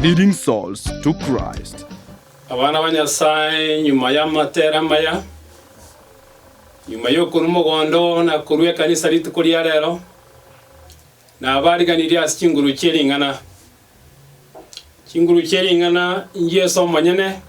Leading Souls to Christ. Abana ba Nyasae, nyuma y'amatera amaya, nyuma y'okorua omogondo na korua ekanisa rituko ria rero, nabariganirie ase chinguru chie ring'ana. Chinguru chie ring'ana n'Jesu omonyene,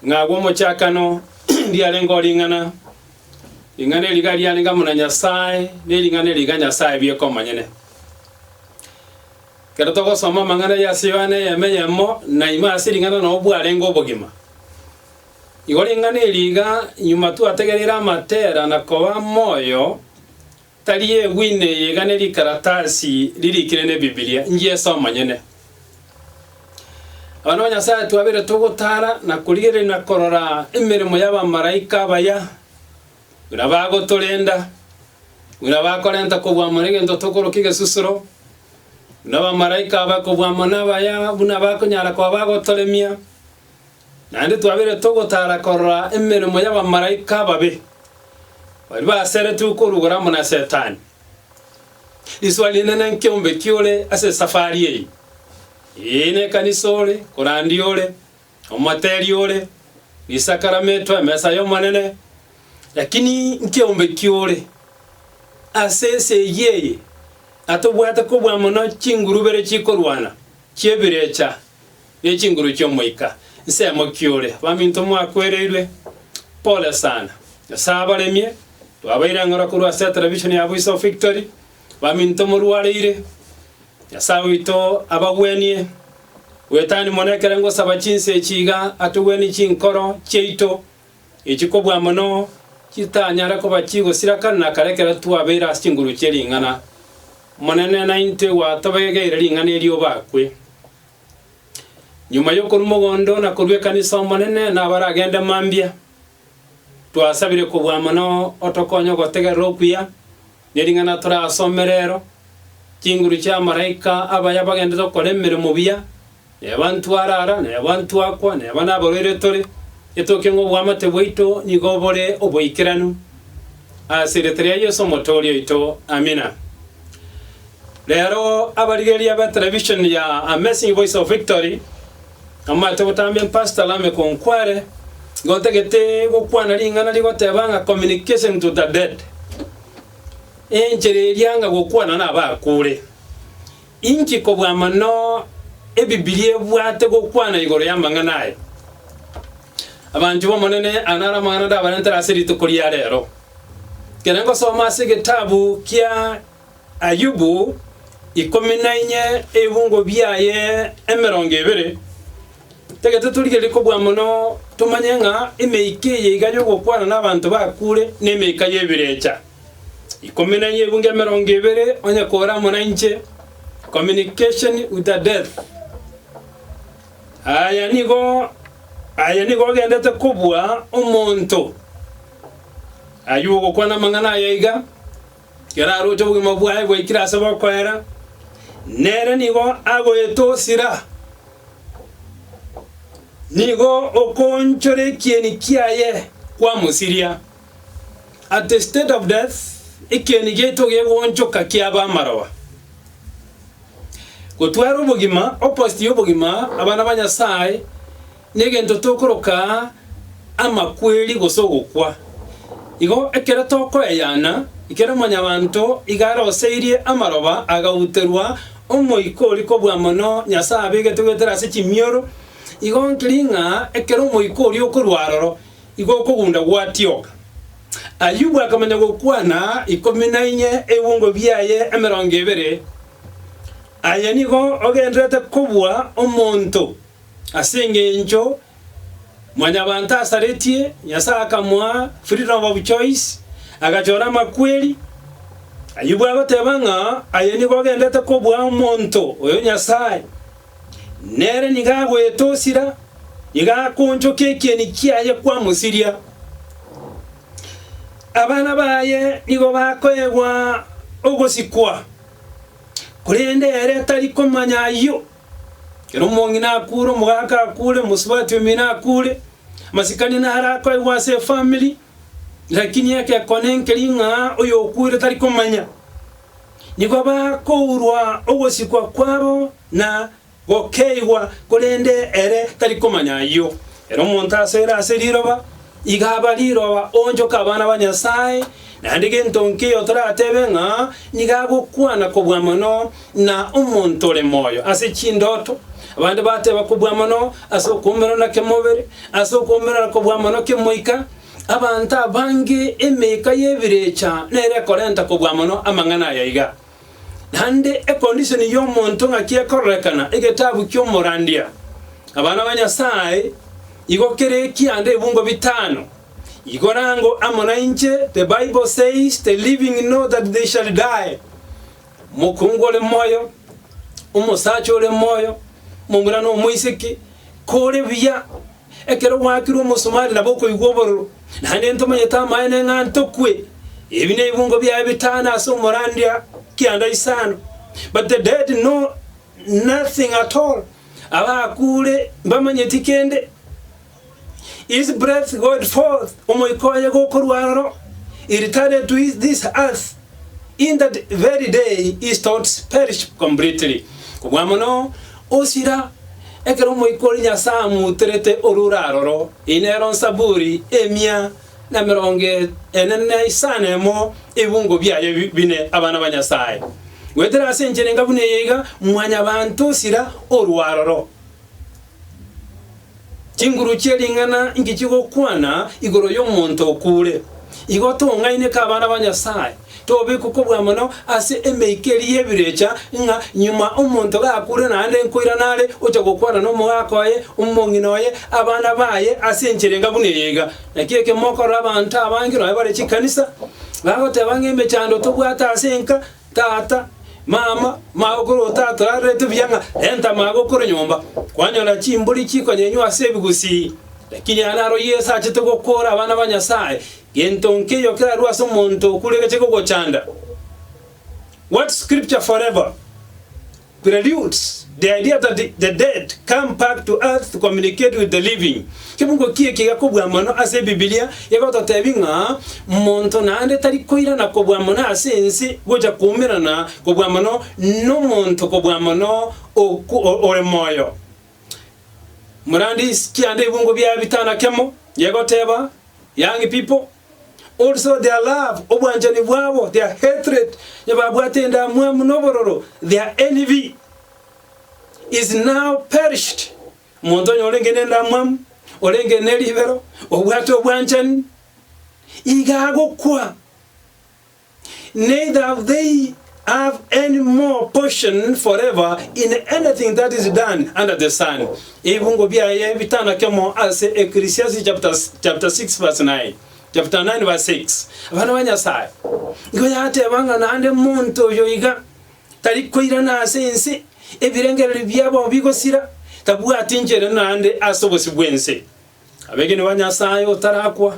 ng'a agwo omochakano ndiarengeo ring'ana, ring'ana eri iga riarenge amo na Nyasae, ne ring'ana eri iga Nyasae bieka omonyene. Ekero togosoma amang'ana aye ase Yohana eyemo eyemo, na ime ase ring'ana nao bwarenge obogima. Igo ring'ana eri iga nyuma twategereire amatera na koba moyo tari egwine eye iga ne rikaratasi ririkire ne Bibilia, ngiesoma nyene. Abana ba Nyasaye twabeire togotara na korigereria na korora emeremo y'abamaraika abaya. Buna bagotorenda, buna bakorenta kobua amo negento tokoroka egesusuro, buna abamalaika abae kobua amo nabaya, buna bakonyara koba bagotoremia, naende twabeire togotara korora emeremo y'abamalaika ababe, baria baseretwe okorugora amo na Setani. Risoa rinene nki'ombeki ore ase esafari eye, ee, nekanisa ore, korandi ore, Omoteli ore, Risakarametwe emesa y'Omonene, lakini nkiombe ki ore? Ase esegi eye atobwate kobua mono chingurubere chikorwana, chi'ebirecha, ne chinguru chi'omoika. Nsemo ki ore? Baminto mwakwereirwe, pole sana. Nyasae abaremie, twabaire ang'ora korwa ase televishoni ya Voice of Victory, Baminto morwareire, Nyasae oito abagwenie. Bwetani mono ekero ngosaba chinsa echi iga atogwenie chinkoro chiaito echi kobua mono chitanyare koba chigosira kare na kare ekero twabeire ase chinguru chie ring'ana. Omonene naintwe gwatobegeire ring'ana eri obakwe. Nyuma yokorua mogondo na korua ekanisa Omonene nabaragende mambia. Twasabire kobua mono otokonye ogotegerera okuya. Nering'ana torasome rero, chinguru chi'amaraika abaya abagenderete gokora emeremo buya, neba ntware ara, neba ntwakwa, neba nabarwaire tore, etoke ng'a obwamate bwaito nigo bore oboikeranu. Ase erieta ria Yeso omotooria oito, Amina. Rero abarigereria be televishoni ya Amazing Voice of Victory, Amate gotama empastor lame ko nkware gotagete gokwana ring'ana rigoteba ng'a communication to the dead. Enchera eria anga gokwana nabakure. Inki kobua mono ebibilia ebwate gokwana igoro y'amang'ana aya? Abanchwa b'Omonene, aya naro amang'ana ndabarentere ase rituko ria rero. Kere ngosoma ase egetabu kia Ayubu ikomi na inye ebibungo biaye emerongo ebere. Tagete torigererie kobua mono tomanye ng'a emeika eye iga y'ogokwana n'abanto bakure nemeika y'ebirecha. Ikomi na inye ebibungo emerongo ebere onye kore amo nainche, communication with a death. Aya nigo aya nigo ogendete kobua omonto. Ayubu ogokwana amang'ana aya iga. Kera aroche obogima bwaye bwaikire ase bokoera, nere nigo agoetosira. Nigo okoonchora ekieni kiaye kwamosiria. At the state of death, ekieni giaito gegoonchoka kiaba amaroba. Gotwara obogima, opposite y'obogima, abana ba Nyasae, Negento tokoroka amakweri gose ogokwa. Igo ekero tokoyayana, ekero mwanyabanto iga aroseirie amaroba agauterwa, omoika oria kobua mono Nyasae abegete goetera ase chimioro, igo nkeri ng'a ekero omoika oria okorwa aroro, igo okogunda gwatioka. Ayubu akamanya gokwana ikomi na inye ebungo biaye emerongo ebere. Aye nigo ogenderete kobua omonto. Ase engencho Mwanyabaanto asaretie, Nyasae akamoa freedom of choice, agachora amakweri. Ayubu agoteba ng'a aye nigo ogendete kobua omonto oyo Nyasae nere nigo agoetosira, nigo akoonchokia ekieni kiaye kwamosiria. Abana baye nigo bakoegwa ogosikwa, korende ere tari komanya ayio. Ekero omong'ina akuure, omogaka akuure, omosubati omino akuure, amasikani naro akoegwa ase efamiri, lakini egekone nkeria ng'a oyokuire tari komanya. Nigo bakourwa ogosikwa kwabo na gokeigwa, korende ere tari komanya ayio. Ere omonto asere ase riroba. Igaba riroba oonchoke abana ba Nyasae, naende gento nkeiyo toratebe ng'a nigo agokwana kobua mono na omonto ore moyo ase chindoto. Abande bateba kobua mono ase okwomera na kemobere, ase okwomera na kobua mono kemoika. Abanto abange emeika y'ebirecha nere ekorenta kobua mono amang'ana aya iga. Naende econdition y'omonto ng'aki ekororekana egetabu ki'omorandia. Abana ba Nyasaye, igo kere ekianda ebungo bitano, igora ango amo nainche, the Bible says the living know that they shall die, omokungu ore moyo, omosacha ore moyo, omomura na omoiseke, kore buya. Ekero gwaakirwe omosomari nabo okoigwa obororo, naende ntomanyete amaene ng'a ntokwe. Ebi nebingo biaye bitano ase omorandia kianda isano, but the dead know nothing at all, abakuure mbamanyeti kende. His breath goed forth, omoika oye gokorwa aroro, he returned to this earth. In that very day his thoughts perished completely, kobua mono osira ekero Omoika oria Nyasae amuuterete orure aroro. Eye nero nsaburi emia na merongo ene na isano emo ebibungo biaye bine, abana ba Nyasae. Goetera ase enchera enga buna eye iga, mwanyabanto osira orue aroro. Chinguru chie ring'ana inki chigokwana igoro y'omonto okuure? Igo tong'aineke abana ba Nyasae, tobekwe kobua mono ase emeikeri y'ebirecha, ng'a nyuma omonto gakure naende nkoirana are ocha gokwana nomogaaka oye, omong'ina oye, abana baye ase enchera enga buna eye iga. Naki ekemo okorora abanto abange, nonya bare chikanisa, bagoteba ng'a emechando tobwate ase enka, Tata, mama, magokuru otatorarerete buya ng'a renta magokuru nyomba, kwanyora chimburi chikonyenywa ase ebigusii. Lakini aye naro Yeso achete gokoora abana ba Nyasae, gento nkeiyo kerarue ase omonto okure geche kogochanda. What scripture forever? Preludes, The idea that the dead come back to earth to communicate with the living. Kebugo ki ekiya kobua mono ase Ebibilia egototebi ng'a monto naende tari koirana kobua mono ase ense gocha koumerana kobua mono nomonto kobua mono ore moyo. Morandis kianda ebungo bia bitana kemo yegoteba, Young people, also their love, obwanchani bwabo, their hatred, onye babwate endamwamu na obororo, their envy, is now perished. Omonto onye orenge nendamwamu, orenge neribero, obwate obwanchani, iga agokwa. neither have they have any more portion forever in anything that is done under the sun. Ebibungo biaye bitanakemo ase Ecclesiastes chapter, chapter 6 verse 9 chapter 9 verse 6 abana ba nyasaye nigo yateba ng'a naende monto oyo iga tari koirana ase ense ebirengererio biabo bigosira tabwati nchere naende ase obosi bw'ense Abegeni ba Nyasae otarakwa,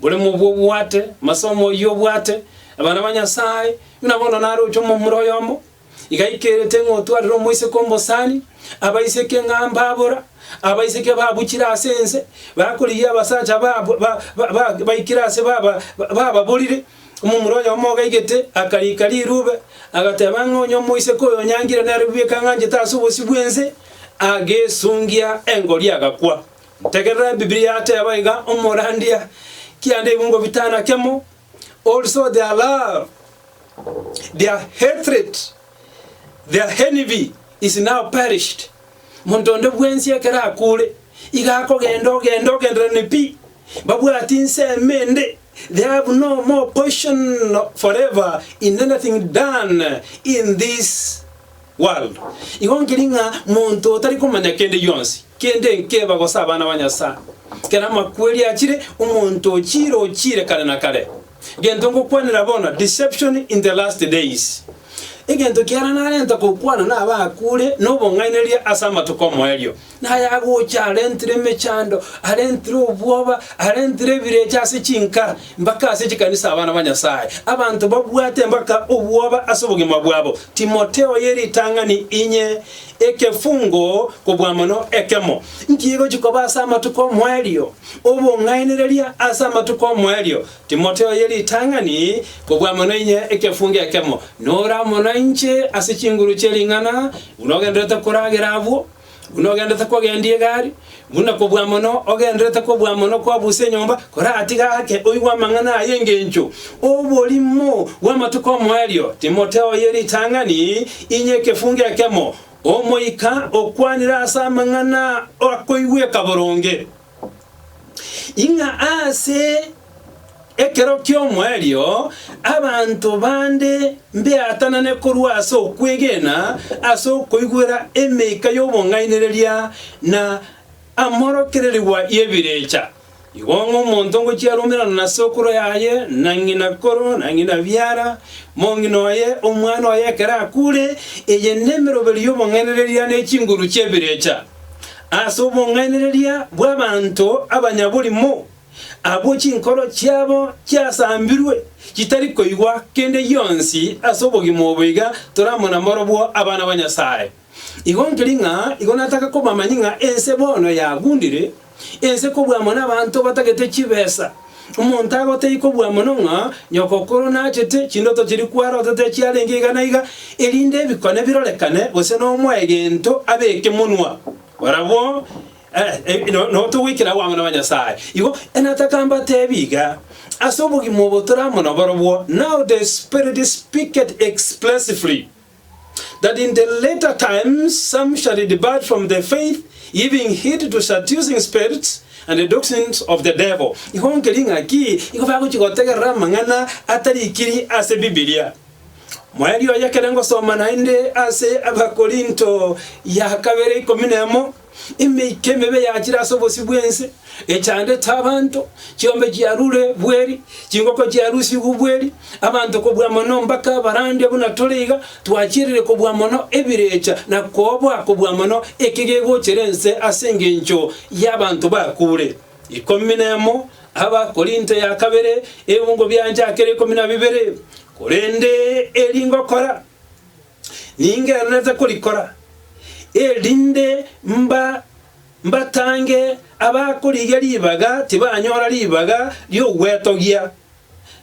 bore mobua obwate amasomo oyio obwate. Abana ba Nyasae, buna bono naroche omomura oyomo, iga aikerete ng'a otwarire omoiseke omosani, abaiseke ng'a mbabora, abaiseke babuchire ase ense, bakorigia abasacha ba- ba- ba- baikire ase baba- bababorire, Omomura oyomo ogaigete akariika rirube, agateba ng'a onye omoiseke oyo onyangire nere bweka ang'anchete ase obosio bw'ense, agesungia engori agakwa. Tegerera Ebibilia yateba iga, Omorandia, kianda igo ngobitana kemo, also their love, their hatred, their envy is now perished. Monto onde bwensi ekero akuure, iga akogenda ogenda ogendererani pi, mbabwati nsemo ende. They have no more portion forever in anything done in this world. Igo nkeri ng'a monto otari komanya kende gionsi, kende nkeba gose abana ba Nyasae, kera amakweri achire omonto ochire ochire kare na kare. Gento ngokwanera bono, deception in the last days. Egento kiara narenta gokwana nabakure nobong'ainereria ase amatuko omoerio. Nayagocha arentire emechando, arentire obwoba, arentire ebirecha ase chinkara, mpaka ase chikanisa abana ba Nyasae. Abanto babwate mpaka obwoba ase obogima bwabo. Timotheo ye ritang'ani inye, ekefungo kobua mono ekemo. Nki egochi koba ase amatuko omoerio? Obong'ainereria ase amatuko omoerio. Timotheo ye ritang'ani kobua mono inye, ekefungo ekemo. Nora mono inche ase chinguru chie ring'ana, buna ogenderete koragera abwo. Buna ogendete kogendia egari, buna kobua mono ogenderete kobua mono kwabusa enyomba, koratiga ake oigwe amang'ana aya engencho oborimo bw'amatuko omoerio. Timotheo oye ritang'ani, inye ekefungo ekemo, omoika okwanire ase amang'ana akoigweka boronge. ing'a ase ekero ki'omoerio abanto bande mbeatanane korwa ase okwegena ase okoigwera emeika y'obong'ainereria na amorokererigwa y'ebirecha. Igo ng'a omonto ngochia arumerana na sokoro yaye, na ng'ina koro, na ng'ina biara, mong'ina oye, omwana oye ekero akure, eye nemeroberio y'obong'ainereria ne chinguru chi'ebirecha. ase obong'ainereria bw'abanto abanyaborimo, abwo chinkoro chiabo chiasambirwe chitari koigwa kende gionsi ase obogima obo iga toramo na morobwo abana ba Nyasae. Igo nkeri ng'a igo nataka kobamanyia ng'a ense bono yagundire, Ense kobua mono abanto batagete chibesa. Omonto agotei kobua mono ng'a nyokokoro nachete chindoto chiria kwarotete chiarenge iga na iga, erinde ebikone birorekane, gose nomoe gento abeke monwa. Barabwo nabo togoikera abwo amo na banyasae. Igo nataka mbateebie iga, ase obogima obo toramo naborobwo, now the Spirit speaketh expressively. that in the later times some shall depart from the faith, giving heed to seducing spirits, and the doctrines of the devil. Igo nkeri ng'aki nigo bagochia gotegerera amang'ana atarikiri ase Bibilia. Moerio oye ekero ngosoma naende ase Abakorinto ya kabere ikomi na emo, Emeika emebe yachire ase obosio bw'ense, echandete abanto, chiombe chiarure bweri, chingoko chiarusigwe bweri, abanto kobua mono mbaka abarande buna tore iga, twachirire kobua mono ebirecha na koobwa kobua mono eke gegochera ense ase engencho y'abanto bakure. Ikomi nemo Abakorinto ya kabere, ebungo bianchakera ikomi na bibere, korende eri ngokora, ningendererete korikora, erinde mba mbatange abakorigia ribaga tibanyora ribaga ri'ogwetogia,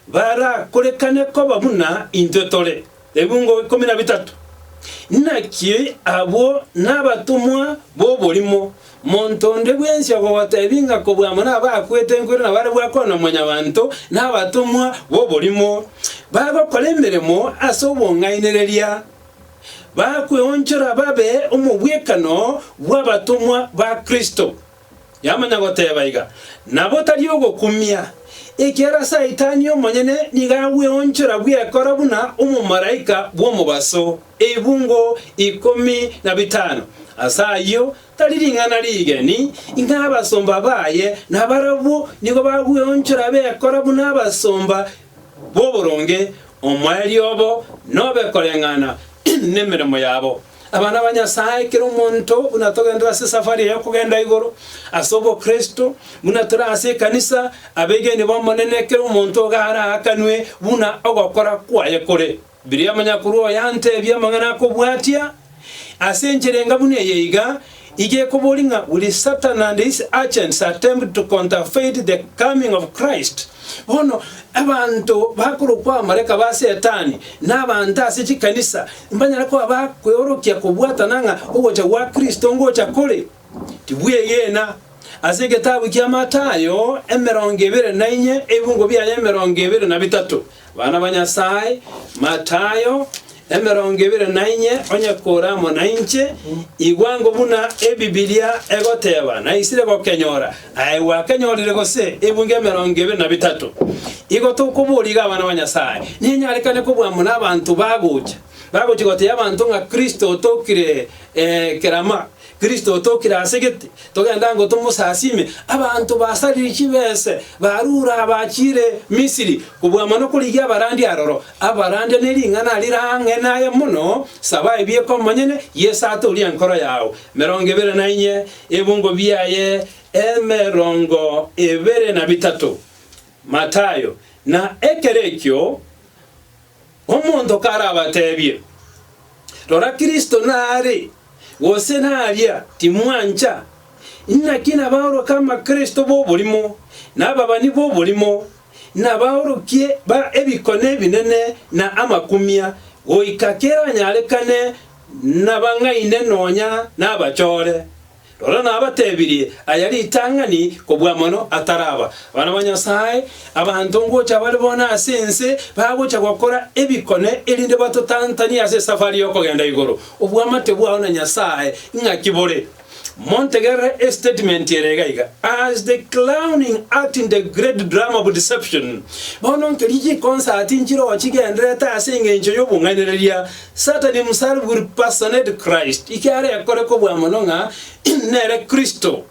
barakorekane koba buna intwe tore. Ebungo ikomi na bitato. Naki abwo nabatomwa b'oborimo, Monto onde bwensi okogoteebia ng'a kobua amo nabakwete nkoiro na bare gwakorwa na Mwanyabaanto na abatomwa b'oborimo, bagokora emeremo ase obong'ainereria, bakweonchora babe omobwekano bw'abatomwa ba Kristo. Yamanya goteeba iga, nabo tari ogokumia, ekiagera Saitani omonyene nigo agweonchora bwekoro buna omomalaika bw'omobaso. ebungo ikomi na bitano. Ase ayio tari ring'ana rigeni ng'a abasomba baye nabarabwo nigo bagweonchora bekora buna abasomba b'oboronge, omoerio obo nobe koreng'ana nemeremo yabo. Abana ba Nyasae, kera omonto buna togenderera ase esafari eye y'okogenda igoro ase obokristo, buna tore ase ekanisa, abegeni b'Omonene, kera omonto iga araakanwe buna ogokora kwaye kore. Biria omonyakuru oyo anteebia amang'ana akobwatia, Ase enchera enga buna eye iga, iga ekoboria ng'a, Will Satan and his agents attempt to counterfeit the coming of Christ? Bono, abanto bakorokwa abamalaika ba Setani, na abanto ase chikanisa, mbanyare koba bakweorokia kobwatana ng'a ogocha gwa Kristo ngocha kore. Tibwegena, ase egetabu kia Matayo emerongo ebere na inye ebibungo biaye emerongo ebere na bitato, Abana ba Nyasae, Matayo emerongo ebere na inye Onye kore amo nainche, igwango buna Ebibilia egoteba, naisire gokenyora, aye gwakenyorire gose ebibungo emerongo ebere na bitato. Igo tokoboria iga abana ba Nyasae, ninyarekane kobua amo nabanto bagocha, bagocha gotebia abanto ng'a Kristo otokire kerama, Kristo otokire ase gete, togenda ngo tomosasiime. Abanto basaririe chibese barure abachiire Misiri kobua amo nokorigia abarandia aroro, abarandia ne ring'ana rire ang'e naye mono, saba ebieko omonyene, Yeso atoorie enkoro yao. Emerongo ebere na inye, ebungo biaye emerongo ebere na bitato. Matayo, na ekero ekio. Omonto karabateebie, Rora Kristo naare, gose naria, timwancha. Inaki nabaoroke amakristo b'oborimo, na ababani b'oborimo, na abaorokia ba ebikone ebinene na amakumia, goika keranyarekane nabang'aine nonya nabachore. Rora nabatebirie aya ritang'ani kobua mono ataraba. Abana ba Nyasae, abanto ngocha bare bono ase ense bagocha gokora ebikone erinde batotantanie ase esafari y'okogenda igoro. Obwamate bwao na Nyasae ing'aki bore? Montegerere estatement ere iga iga, As the clowning act in the great drama of deception, bono nkeri chikonsati nchirochi gendererete ase engencho y'obong'ainereria Satan himself will personate Christ, eke are akore kobua mono ng'a nere Kristo.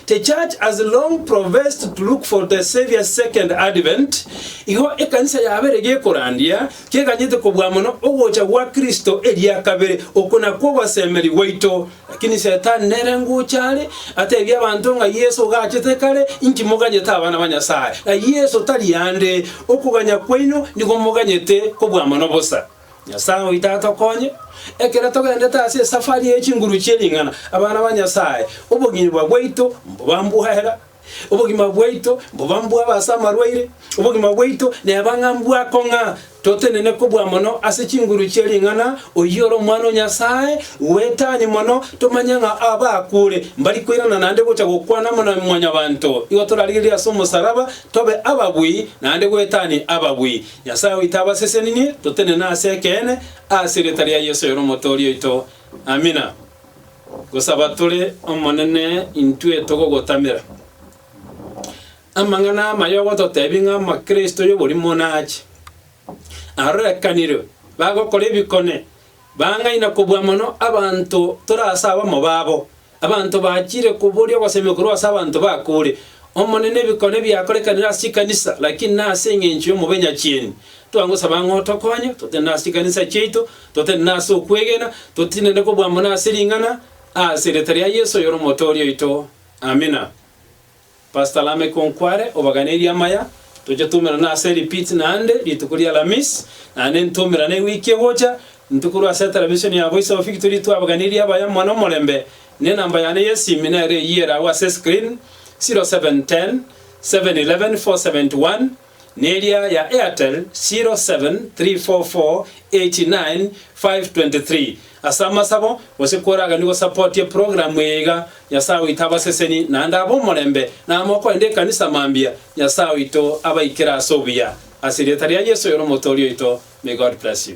The Church has long professed to look for the Saviour's second advent, igo ekanisa yabeire gekorandia keganyete kobua mono ogocha gwa Kristo eria kabere, oko nakwo ogosemeria gwaito. Lakini Satan nere ngocha are, ateebie abanto ng'a Yeso ogachete kare, inki moganyete abana ba Nyasae? Na Yeso tari aande, okoganya kwaino nigo moganyete kobua mono bosa. Nyasae oito atokonye, ekero togendete ase esafari ye chinguru chie ring'ana. Abana ba Nyasae, obogima bwaito mboba mbw'ehera, obogima bwaito mboba mbw'aba ase amarwaire, obogima bwaito neba ng'a mbwako ng'a totenene kobua mono ase chinguru chie ring'ana, oyio ore Omwana o Nyasae bw'etani mono, tomanye ng'a abaakure mbari koirana naende gocha gokwana amo na Mwanyabaanto. Igo torarigererie ase omosaraba tobe ababui, naende bw'etani ababui. Nyasae oito abaseseninie, totenene ase ekeene, ase erieta ria Yeso oyore Omotoori oito. Amina. Gosaba tore Omonene intwe togogotamera. Amang'ana amaya ogototebia ng'a Omokristo y'oborimo nache. Arorekanire bagokora ebikone, Bang'aina kobua mono abanto tore ase abamo babo, abanto bachire koboria ogosemi korwa ase abanto bakure. Omonene, ebikone biakorekanire ase chikanisa, lakini nase engencho y'omobenyachieni, twagosaba ng'a otokonye, totenene ase chikanisa chiaito, totenene ase okwegena, totinene kobua mono ase ring'ana, ase erieta ria Yeso oyore Omotooria oito. Amina. Pastor Lameko nkware obaganerie amaya, toche twaumerane ase repeat naende rituko ri'Alamisi, naende ntwaumerane ewiki egocha, intwe korwa ase etelevisioni ya Voice of Victory twabaganeiri abaya mono omorembe, na enamba yane y'esimi nero eyio ere agwo ase escreen, 0710 711 471. Neria ya Airtel 0734489523 ase amasabo gose koraganio gosapotie program eye iga Nyasae oito abaseseni naende abe omorembe namoko ende ekanisa mambia Nyasae oito abaikere ase obuya ase erieta ria Yesu oyore omotoria oito may God bless you.